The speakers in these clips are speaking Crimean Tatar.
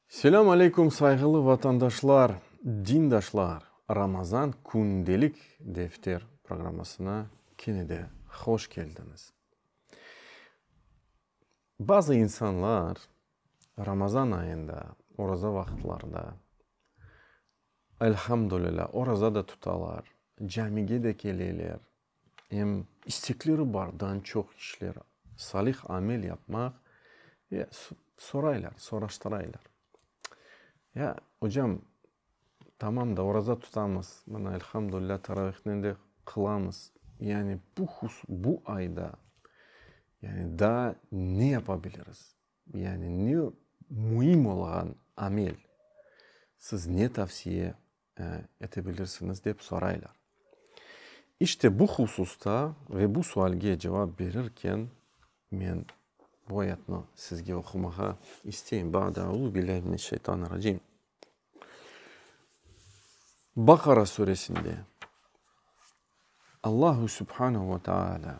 Selâm aleyküm sayğılı vatandaşlar, dindaşlar! Ramazan kündelik defter programmasına kene de hoş keldiñiz. Bazı insanlar Ramazan ayında, oraza vaqıtlarda, elhamdülilâ, oraza da tutalar, camige de keleler, Em istekleri bar, dan çoq işler, salih amel yapmaq ve soraylar, soraştıraylar. Ya, ocam, tamam da, oraza tutamız, mına, elhamdülilâh, taravihnen de qılamız. Yani bu hus, bu ayda, yani daa ne yapa biliriz? Yani ne müim olğan amel? Siz ne tavsiye ete bilirsiñiz dep soraylar. İşte bu hususta ve bu sualge cevap berirken men bu ayatnı sizge oqumağa isteyim, Ba'de euzubillahi mineşşeytanirracim. Baqara Suresinde Allahu Subhanahu ve Teala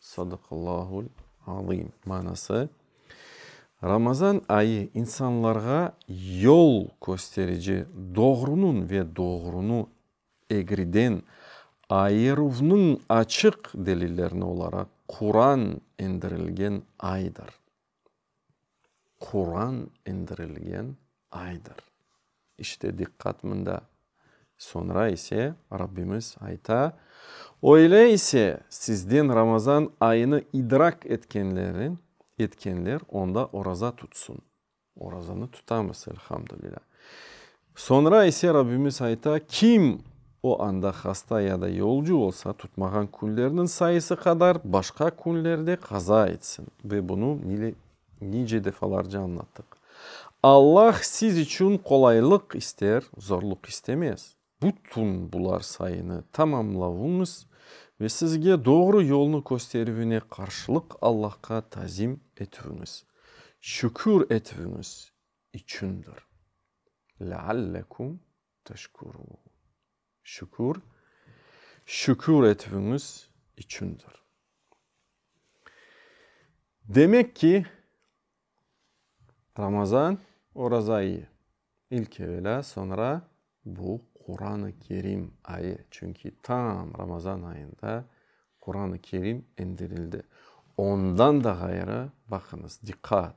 Sadaqallâhul azim. Manası, Ramazan ayı insanlarğa yol kösterici, doğrunıñ ve doğrunı egriden ayıruvnıñ açıq delillerini olaraq Quran endirilgen aydır. Quran indirilgen aydır. İşte diqqat mında. Soñra ise Rabbimiz ayta, Öyle ise, sizden Ramazan ayını idrak etkenlerin, etkenler onda oraza tutsın. Orazanı tutamız, elhamdülilâ. Soñra ise Rabbimiz ayta, Kim o anda hasta ya da yolcu olsa, tutmağan künlerniñ sayısı qadar başqa künlerde qaza etsin. Ve bunı nile nice defalarca añlattıq. Allah siz içün qolaylıq ister, zorluq istemez. Bütün bular sayını tamamlavıñız ve sizge doğru yolnı kösterüvine qarşılıq Allahqa tazim etüviñiz, şükür etüviñiz, içündir. Leallekum teşkurûn. Şükür, şükür etüviñiz içündir. Demek ki, Ramazan, oraza ayı, ilk evelâ, soñra bu Quran-ı Kerim ayı. Çünki tam Ramazan ayında Quran-ı Kerim indirildi. Ondan da ğayrı, baqıñız, diqqat!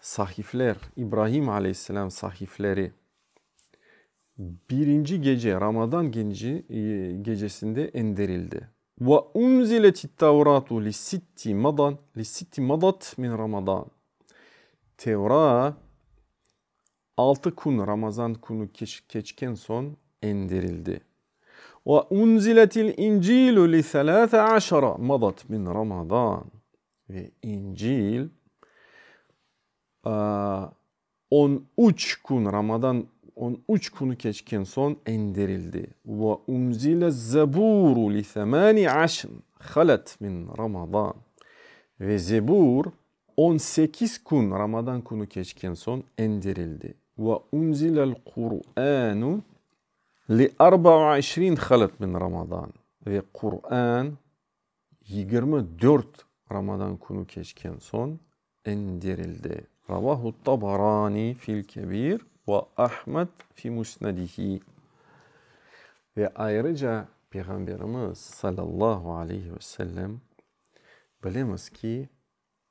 Sahifler, İbraim aleyhisselâm sahifleri, birinci gece, Ramadan gecesinde endirildi. Ve unzilet'it-Tevratu li sitti madan, li sitti madat min Ramadan, Tevrat altı kün, Ramazan künü keçken soñ endirildi. Ve unzilet'il-İncilu li selâse aşara madat min Ramadan. Ve İncil on üç kün, Ramadan on üç künü keçken soñ endirildi. Ve unzile Zeburu li semâni aşr halet min Ramadan. Ve Zebur on sekiz kün, Ramadan künü keçken soñ endirildi. Ve unzilel Kur'anu li arba ve işrin halet min Ramadan. Ve Kur'an. Yigirmi dört Ramadan künü keçken soñ endirildi. Ravahu Tabarani fil Kebir ve Ahmed fi Musnedihi. Ve ayrıca Peyğamberimiz sallallahu aleyhi ve sellem, Bilemiz ki,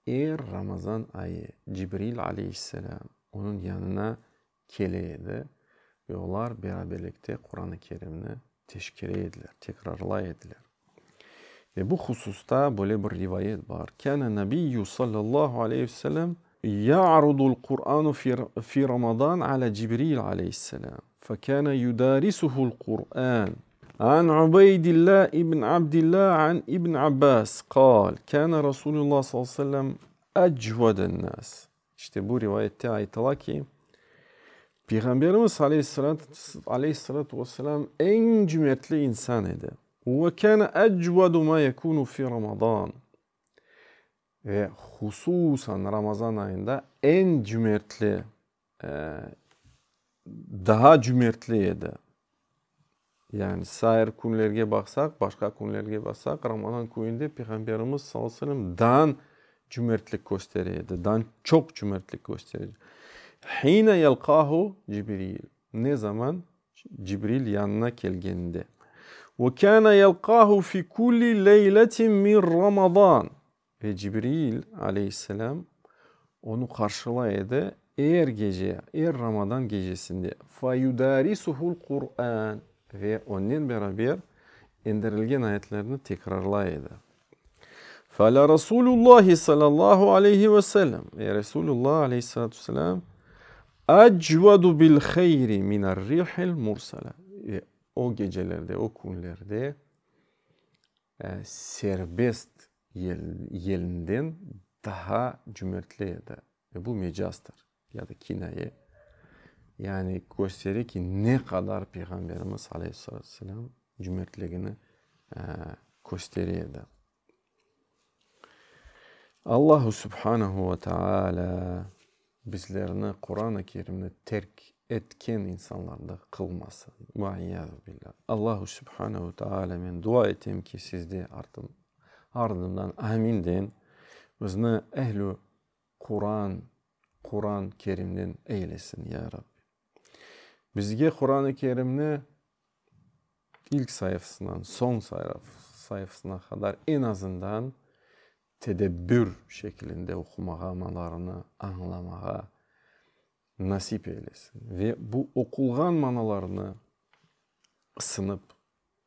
er Ramazan ayı Cibril aleyhisselam onıñ yanına kele edi ve olar beraberlikte Quran-ı Kerimni teşkere ediler, tekrarlay ediler. Ve bu hususta böyle bir rivayet bar, Kâne Nabiyyü sallallahu aleyhi ve sellem ya'rudul Qur'anu fi Ramadan ala Cibril aleyhisselam, fe kâne yudarisuhul Qur'an. An Ubeydillah ibn Abdillah an ibn Abbas, qâl, Kâne Rasulullah sallallahu aleyhi ve sellem ecveden nas, İşte bu rivayette aytıla ki, Peyğamberimiz aleyhissalâtu ve selâm eñ cümertli insan edi. Ve kâne ecvedu mâ yekûnu fî Ramazân. Ve hususan Ramazan ayında eñ cümertli, daa cümertli edi. Yani sair künlerge baqsaq, başqa künlerge baqsaq, Ramazan kününde Peyğamberimiz sallallahu aleyhi ve sellem dan cümertlik köstere edi, dan çoq cümertlik köstere edi. Hine yelqahu Cibril, ne zaman Cibril yanına kelgende. Ve kâne yelqahu fi kulli leyletin min Ramazan. Ve Cibril aleyhisselâm onı qarşılay edi er gece, er Ramadan gecesinde, fe yudarisuhul Kurân, ve onnen beraber endirilgen ayetlerni tekrarlay edi. Feala Rasulullahi sallallahu aleyhi ve sellem, ve Resulullah aleyhissalâtu vesselâm ecvedu bil hayri minerrihil mursele, ve o gecelerde, o künlerde serbest yelinden daha cümertli edi. Ve bu mecazdır ya da kinaye. Yani köstere ki, ne qadar Peyğamberimiz aleyhissalâtu vesselâm cümertligini köstere edi. Allahu subhanehu ve teâlâ. Bizlerni Quran-ı Kerimni terk etken insanlardan qılmasın. Ve iyâzu billâh. Allahu Sübhanehu Teâlâmen dua etem ki, siz de ardından amin deñ, bizni ehl-i Quran, Quran Kerimden eylesin, ya Rabbi. Bizge Quran-ı Kerimni ilk sayfasından soñ sayfasına qadar en azından. tedebbür şekilinde oqumağa, manalarını añlamağa nasip eylesin ve bu oqulğan manalarını ısınıp,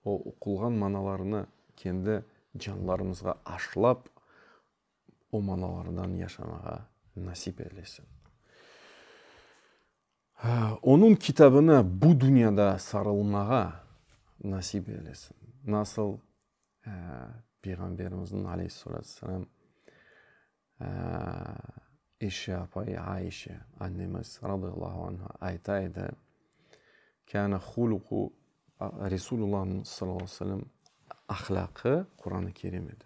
o oqulğan manalarını kendi canlarımızğa aşılap, o manalardan yaşamağa nasip eylesin. Onıñ kitabına bu dünyada sarılmağa nasip eylesin. Nasıl Peyğamberimizniñ, aleyhissalâtu vesselâm, eşi apayı Aişe annemiz, radiyallahu anha, ayta edi, Kâne huluku, Resulullahımız, sallallahu aleyhi ve sellem, ahlâqı Qur'an-ı Kerim edi.